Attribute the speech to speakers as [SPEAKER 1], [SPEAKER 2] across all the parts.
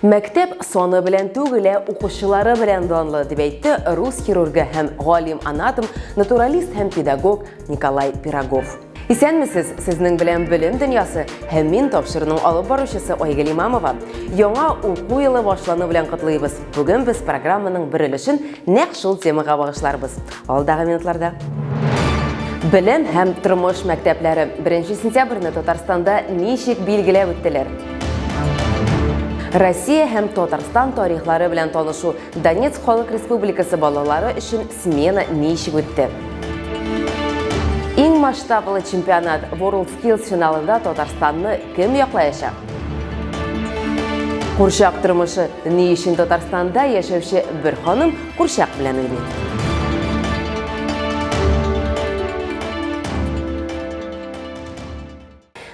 [SPEAKER 1] Мәктәп саны белән түгел, ә укучылары белән данлы, дип әйтте рус хирургы һәм галим-анатом, натуралист һәм педагог Николай Пирогов. Исәнмесез, сезнең белән белем дөньясы һәм мин тапшыруның алып баручысы Айгөл Имамова. Яңа уку елы башлану белән котлыйбыз. Бүген без программаның бер өлешен нәкъ шул темага багышларбыз. Алдагы минутларда Белем һәм тормыш мәктәпләре 1 сентябрьне Татарстанда ничек билгеләп үттеләр? Россия һәм Татарстан тарихлары белән танышу Донецк халык республикасы балалары өчен смена ничек үтте? Иң масштаблы чемпионат World Skills финалында Татарстанны кем яклаячак? Курчак тормышы ни өчен Татарстанда яшәүче бер ханым Курчак белән уйный.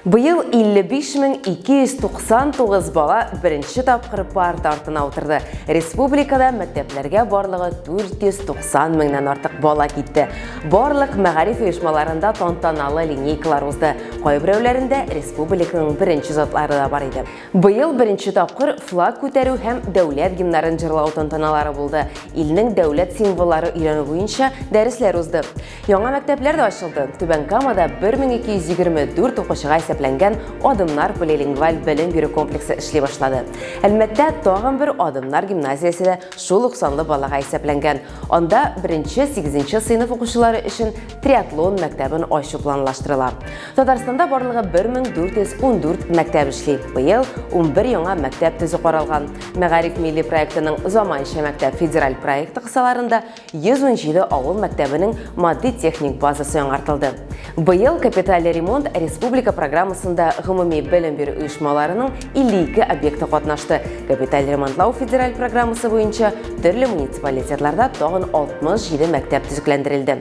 [SPEAKER 1] Быел 55299 бала беренче тапкыр парта артына утырды. Республикада мәктәпләргә барлыгы 490 меңнән артык бала китте. Барлык мәгариф оешмаларында тантаналы линейкалар узды. Кайберәүләрендә республиканың беренче затлары да бар иде. Быел беренче тапкыр флаг күтәрү һәм дәүләт гимнарын җырлау тантаналары булды, илнең дәүләт символлары өйрәнү буенча дәресләр узды. Яңа мәктәпләр дә ачылды. Түбән Камада 1224 укучыга исәпләнгән Адымнар полилингваль белем бирү комплексы эшли башлады. Әлмәттә тагын бер Адымнар гимназиясе дә шул ук санлы балага исәпләнгән. Анда беренче-сигезенче сыйныф укучылары өчен триатлон мәктәбен ачу планлаштырыла. Татарстанда барлыгы 1414 мәктәп эшли. Быел 11 яңа мәктәп төзү каралган. Мәгариф милли проектының заманча мәктәп федераль проекты кысаларында 117 авыл мәктәбенең матди-техник базасы яңартылды. Быел капиталь ремонт республика программасында гомуми белем бирү оешмаларының 52 объекты катнашты. Капиталь ремонтлау федераль программасы буенча төрле муниципалитетларда тагын 67 мәктәп төзекләндерелде.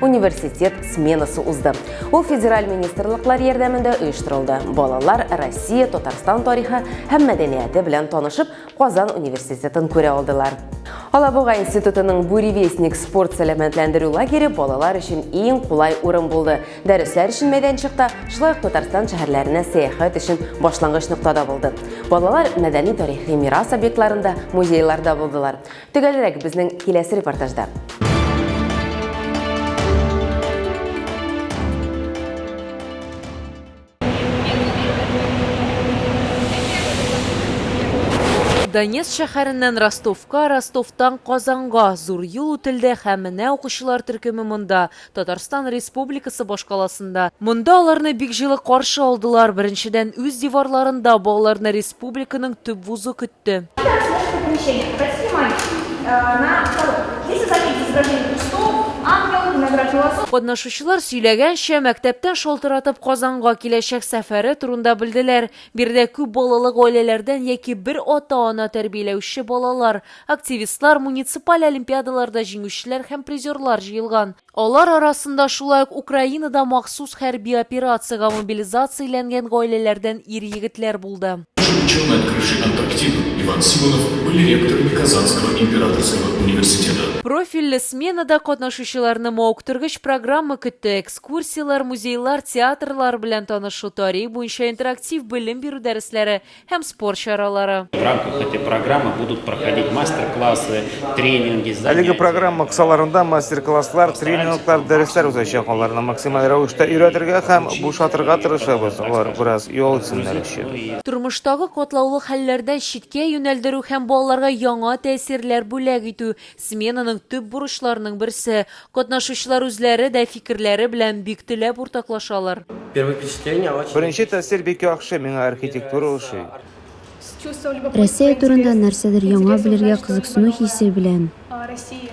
[SPEAKER 1] университет сменасы узды. Ул федераль министрлыклар ярдәмендә оештырылды. Балалар Россия, Татарстан тарихы һәм мәдәнияте белән танышып, Казан университетын күрә алдылар. Алабуга институтының Буревестник спорт сәламәтләндерү лагере балалар өчен иң кулай урын булды. Дәресләр өчен мәйданчыкта, шулай ук Татарстан шәһәрләренә сәяхәт өчен башлангыч ноктада булды. Балалар мәдәни-тарихи мирас объектларында, музейларда булдылар. Төгәлрәк безнең киләсе репортажда. Донецк шәһәреннән Ростовка, Ростовтан Казанга зур юл үтелде һәм менә укучылар төркеме монда Татарстан Республикасы башкаласында. Монда аларны бик җылы каршы алдылар, беренчедән, үз диварларында балаларны республиканың төп вузы көтте. Катнашучылар сөйләгәнчә, мәктәптән шалтыратып Казанга киләчәк сәфәре турында белделәр. Биредә күп балалы гаиләләрдән яки бер ата-ана тәрбияләүче балалар, Активистлар, муниципаль олимпиадаларда җиңүчеләр һәм призерлар җыелган. Алар арасында шулай ук Украинада махсус хәрби операциягә мобилизацияләнгән гаиләләрдән ир-егетләр булды. Ученые на крыше Антарктиды, Иван Симонов, были ректорами Казанского императорского университета. Профильле сменада катнашучыларны мавыктыргыч программа көтте, экскурсияләр, музейлар, театрлар белән танышу, тарих буенча интерактив белем бирү дәресләре, һәм спорт чаралары. В рамках этой программы будут проходить мастер-классы, тренинги, занятия. Әлеге программа кысаларында мастер-класслар, тренинглар, дәресләр узачак. Аларны максималь рәвештә өйрәтергә һәм бушатырга тырышабыз. Алар бераз ял итсеннәр өчен. Тормыштагы катлаулы хәлләрдән читкә юнәлдерү һәм балаларга яңа тәэсирләр бүләк итү, сменаның төп бурычларының берсе. Катнашучылар үзләре дә фикерләре белән бик теләп уртаклашалар. Беренче тәэсир бик яхшы, миңа архитектура ошый. Россия турында нәрсәдер яңа белергә кызыксыну хисе белән.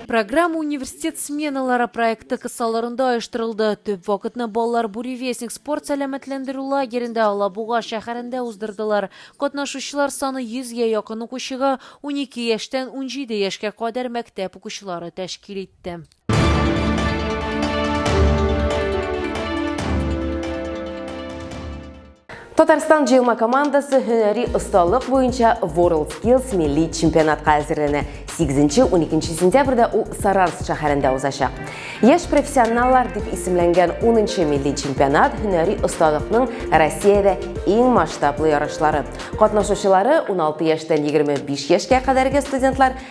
[SPEAKER 1] Программа Университет сменалары проекты кысаларында оештырылды. Төп вакытны балалар Буревестник спорт-сәламәтләндерү лагерендә Алабуга шәһәрендә уздырдылар. Катнашучылар саны 100 гә якын укучыга, унике яшьтән унҗиде яшькә кадәр мәктәп укучылары тәшкил итте. китте. Татарстан җыелма командасы һөнәри осталык буенча World Skills милли чемпионатка әзерләнә. 8-12 сентябрьдә ул Саранск шәһәрендә узачак. Яшь профессионаллар дип исемләнгән 10-нчы милли чемпионат һөнәри осталыкның Россиядә иң масштаблы ярышлары. Катнашучылары 16 яшьтән 25 яшькә кадәрге студентлар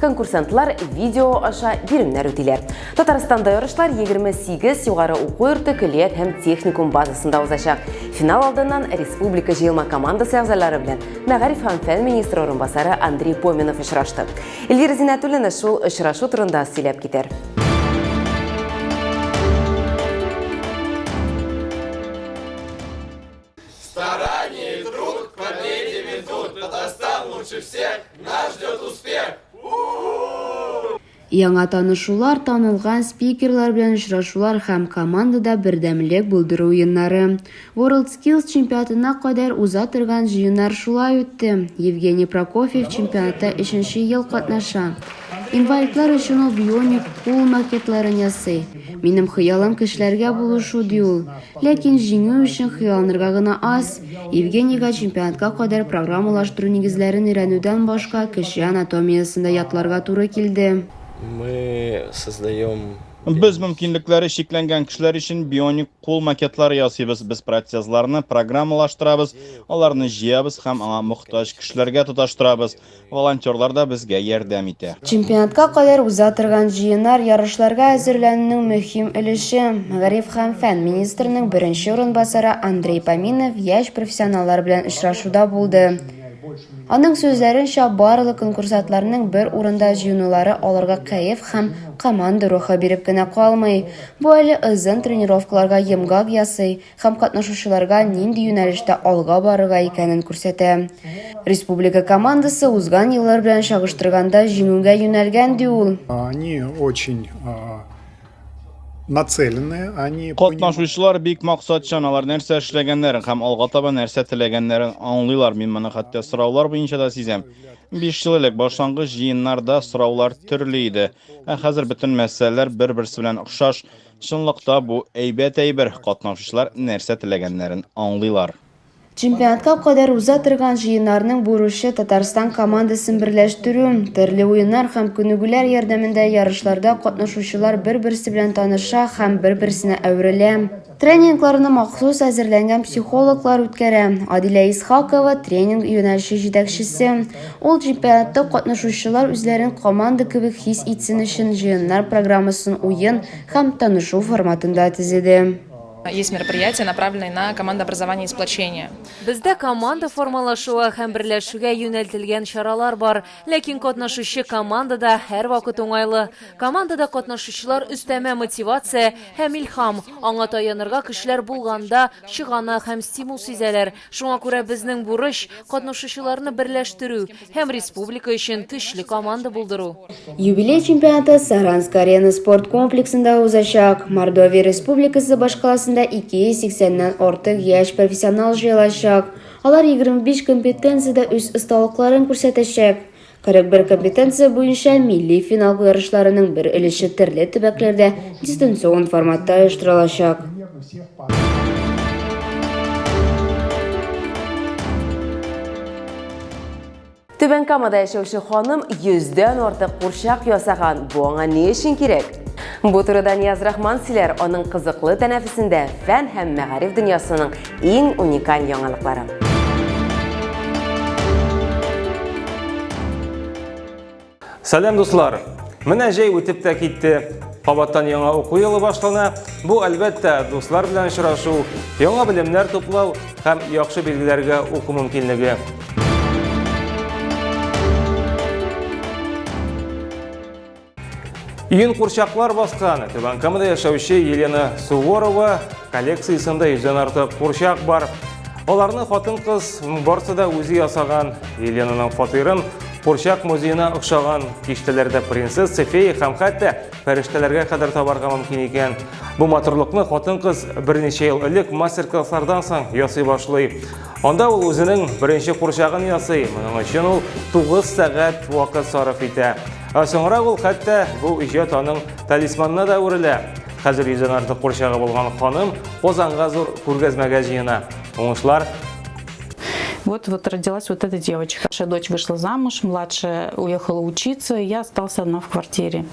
[SPEAKER 1] конкурсантлар видео аша биремнәр үтиләр. Татарстанда ярышлар 28 югары уку йорты көллият һәм техникум базасында узачак. Финал алдыннан республика җыелма командасы әгъзалары белән мәгариф һәм фән министры орынбасары Андрей Поминов очрашты. Эльвира Зинатуллина шул очрашу турында сөйләп китәр. Старание и труд к победе ведут. Татарстан лучше всех, нас ждет успех. Яңа танышулар, танылган спикерлар белән очрашулар һәм командада бердәмлек булдыру уеннары. WorldSkills чемпионатына кадәр уза торган җыеннар шулай үтте. Евгений Прокофьев чемпионатта өченче ел катнаша. Инвалидлар өчен ул бионик кул макетларын ясый. Минем хыялым кешеләргә булышу, ди ул. Ләкин җиңү өчен хыялланырга гына аз. Евгенийга чемпионатка кадәр программалаштыру нигезләрен өйрәнүдән башка, кеше анатомиясен дә ятларга туры килде. Без мөмкинлекләре чикләнгән кешеләр өчен бионик кул макетлары ясыйбыз. Без протезларны программалаштырабыз, аларны җыябыз һәм аңа мохтаҗ кешеләргә тоташтырабыз. волонтерлар да безгә ярдәм итә. Чемпионатка кадәр уза торган җыеннар ярышларга әзерләнүнең мөһим өлеше. Мәгариф һәм фән министрының беренче урынбасары Андрей Поминов яшь профессионаллар белән очрашуда булды. Аның сүзләренчә, барлык конкурсантларның бер урында җыенулары аларга кәеф һәм команда рухы биреп кенә калмый, бу әле озын тренировкаларга йомгак ясый, һәм катнашучыларга нинди юнәлештә алга барырга икәнен күрсәтә. Республика командасы узган еллар белән чагыштырганда җиңүгә юнәлгән, ди ул. Они очень нацеленные, они Катнашучылар бик максатчан, алар нәрсә эшләгәннәрен һәм алга таба нәрсә теләгәннәрен аңлыйлар, мин моны хәтта сораулар буенча да сизәм. Биш ел элек башлангыч җыеннарда сораулар төрле иде, ә хәзер бөтен мәсьәләләр бер-берсе белән охшаш, Чынлык та бу әйбәт әйбер, катнашучылар нәрсә теләгәннәрен аңлыйлар. Чемпионатка кадәр уза торган җыеннарның бурычы, Татарстан командасын берләштерү. Төрле уеннар һәм күнегүләр ярдәмендә ярышларда катнашучылар бер-берсе белән таныша һәм бер-берсенә әверелә. Тренингларны махсус әзерләнгән психологлар үткәрә. Адилә Исхакова, тренинг юнәлеше җитәкчесе. Ул чемпионатта катнашучылар үзләрен команда кебек хис итсен өчен җыеннар программасын уен һәм танышу форматында төзеде. Есть мероприятия, направленные на командообразование и сплочение. Бездә команда формалашуы һәм берләшүгә юнәлтелгән чаралар бар. Ләкин катнашучы командада һәрвакыт уңайлы. Командада катнашучылар өстәмә мотивация һәм илһам, аңа таянырга көчләр булганда чыганак һәм стимул сизәләр, Шуңа күрә безнең бурыч, катнашучыларны берләштерү һәм республика өчен көчле команда булдыру. Юбилей чемпионаты Саранск-Арена спорт комплексында узачак. Мордовия Республикасы башкаласында 280 ннән артык яшь профессионал җыелачак. Алар 25 компетенциядә үз осталыкларын күрсәтәчәк. 41 компетенция буенча милли финал ярышларының бер өлеше төрле төбәкләрдә дистанцион форматта оештырылачак. Түбән Камада яшәүче ханым 100дән артык курчак ясаган. Бу аңа ни өчен кирәк? Бу турыда Нияз Рахман сөйләр, аның кызыклы тәнәфесендә фән һәм мәгариф дөньясының Иң уникаль яңалыкларым. Сәлам дуслар! Менә җәй үтеп тә китте. Кабаттан яңа уку елы башлана. Бу әлбәттә дуслар белән очрашу, яңа белемнәр туплау һәм яхшы билгеләргә уку мөмкинлеге. Иген курчаклар баскан Түбән Камада яшәүче Елена Суворова коллекциясендә йөздән артык курчак бар. Аларны хатын-кыз барсы да үзе ясаган. Еленаның фатирын курчак музеена охшаган киштәләрдә принцесса, фея һәм хәтта фәрештәләргә кадәр табарга мөмкин икән. Бу матурлыкны хатын-кыз берничә ел элек мастер-класслардан соң ясый башлый. Анда ул үзенең беренче курчагын ясый, моның өчен ул 9 сәгать вакыт сарыф итә. Ә соңрак ул хәтта бу иҗат аның талисманына да әверелә. Хәзер йөздән артык курчагы булган ханым Казанга зур күргәзмәгә җыена. Уңышлар! Вот, вот родилась вот эта девочка. Наша дочь вышла замуж, младшая уехала учиться, и я остался одна в квартире.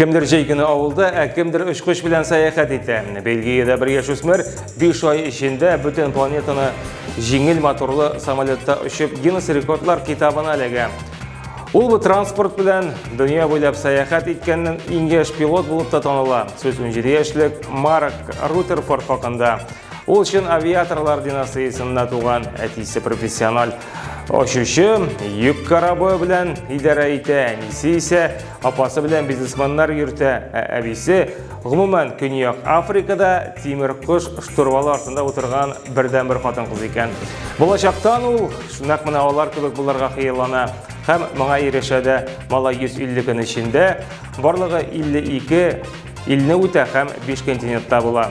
[SPEAKER 1] Кемдер җәй көне авылда, ә кемдер очкыч белән сәяхәт итә. Бельгиядә бер яшүсмер 5 ай эчендә бөтен планетаны җиңел моторлы самолетта очып Гиннес рекордлар китабына эләгә. Ул бу транспорт белән дөнья буйлап сәяхәт иткәннән иң яшь пилот булып та таныла. Сүз 17 яшьлек Марк Рутерфорд хакында. Ул чын авиаторлар династиясендә туган, әтисе профессиональ очучы, йөк корабы белән идарә итә, әнисе исә Апасы белән бизнесменнар йөртә, ә әбисе, гомумән, Көньяк Африкада тимер кош штурвалы артында утырган бердән бер хатын кыз икән. Булачактан ул нәкъ менә алар кебек булырга хыяллана һәм моңа ирешә дә. Малай 150 көн эчендә барлыгы 52 илне үтә һәм 5 континентта була.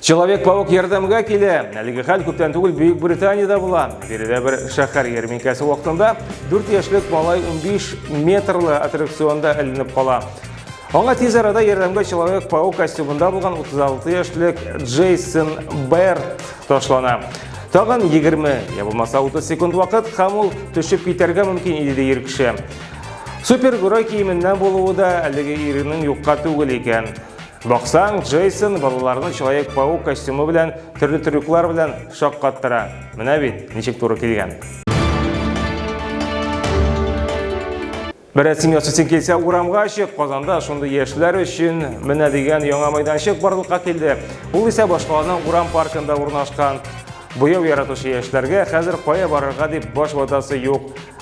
[SPEAKER 1] Человек-паук ярдәмгә килә. Әлеге хәл күптән түгел Бөек Британиядә була. Биредә бер шәһәр ярминкәсе вакытында 4 яшьлек малай 15 метрлы аттракционда эленеп кала. Аңа тиз арада ярдәмгә Человек-паук костюмында булган 36 яшьлек Джейсон Берт ташлана. Тагын 20 я булмаса 30 секунд вакыт һәм ул төшеп китәргә мөмкин иде ди ир кеше. Супергерой киеменнән булуы да әлеге иренең юкка түгел икән. Баксаң, Джейсон балаларны Человек-паук костюмы белән, төрле трюклар белән шаккаттыра. Менә бит, ничек туры килгән. Бер рәсем ясыйсың килсә, урамга чык. Казанда шундый яшьләр өчен менә дигән яңа мәйданчык барлыкка килде. Ул исә башкаланың урам паркында урнашкан. Буяу яратучы яшьләргә хәзер кая барырга дип баш ватасы юк.